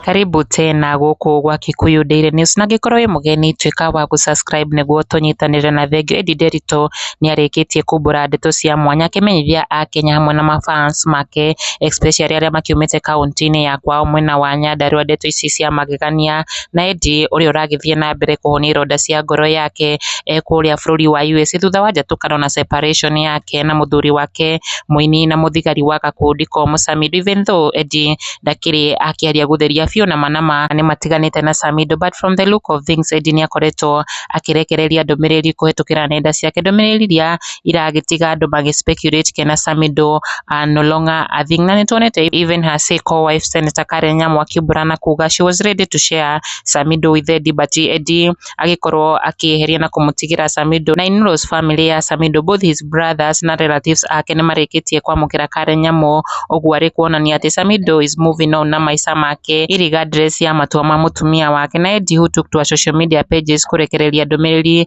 Karibu tena gũkũ gwa Kikuyu Daily News na angĩkorwo wĩ mũgeni tuĩka wa gũ subscribe nĩguo tũnyitanĩre na thengiũ. Eddie Nderitu nĩ arĩkĩtie kumbũra ndeto cia mwanya akĩmenyithia Akenya hamwe na mafans make especially arĩa makiumĩte kaũntĩ-inĩ ya kwao mwena wa Nyandarua ndeto ici cia magegania na Eddie ũrĩa ũragĩthiĩ na mbere kũhonio ironda cia ngoro yake e kũrĩa bũrũri wa USA thutha wa njatũkano na separation yake na mũthuri wake mũini na mũthigari wa gakundi komũ Samido even though Eddie ndakĩrĩ akĩaria gũtheria biũ na ma na ma nĩ matiganĩte na Samido but from the look of things Eddie nĩ akoretwo akĩrekereria ndũmĩrĩri kũhetũkĩra nenda ciake ndũmĩrĩri iria iragĩtiga andũ magĩ speculate kena Samidoh, no longer a thing. Na nĩ tuonete even her say co wife Senator Karen Nyamwa Kĩũmburana kuga she was ready to share Samidoh with Eddie but Eddie agĩkorwo akĩeheria na kũmũtigĩra Samidoh. Na in laws family ya Samidoh both his brothers na relatives ake nĩ marĩkĩtie kwamũkĩra Karen Nyamũ, ũguo arĩ kuonania atĩ Samidoh is moving on na maica make irregardless ya matua ma mũtumia wake. Na Eddie who took to her social media pages kũrekereria ndũmĩrĩri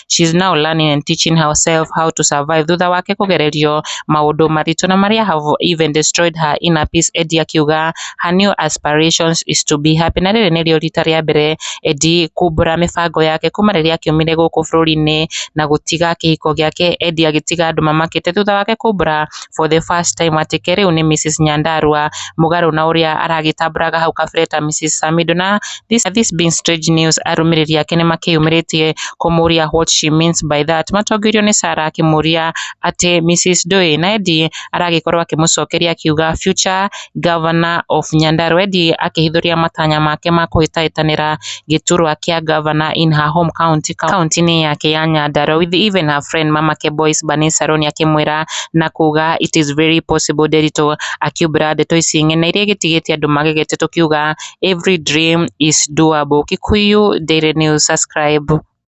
she is now learning and teaching herself how to survive thutha wake kũgererio maũndũ maritũ na marĩa have even destroyed her inner peace Edie akiuga her new aspirations is to be happy na rĩrĩ nĩrĩo rita rĩa mbere Edie kumbũra mĩbango yake kuma rĩrĩa akiumire gũkũ bũrũri-inĩ na gũtiga kĩhiko gĩake Edie agĩtiga andũ mamakĩte thutha wake kumbũra for the first time atĩ Kerĩ ũyũ nĩ Mrs Nyandarũa mũgarũ na ũrĩa aragĩtambũraga hau kabere ta Mrs Samido na this being strange news arũmĩrĩri ake nĩ makĩyumĩrĩtie kũmũria what she means by that matongorio nĩ Sarah akĩmũria atĩ Mrs Ndũĩ na Eddie aragĩkorwo akĩmũcokeria akiuga future Ngavana of Nyandarua ĩndĩ akĩhithũria matanya make ma kũhĩtahĩtanĩra gĩturwa kĩa ngavana in her home county kaũntĩ-inĩ yake ya Nyandarua with even her friend mama Kebois Bernice Saroni akĩmwĩra na kuga it is very possible Nderitu akiumbũra ndeto ici ng'e na iria igĩtigĩte andũ magegete tũkiuga every dream is doable Kikuyu Daily News subscribe.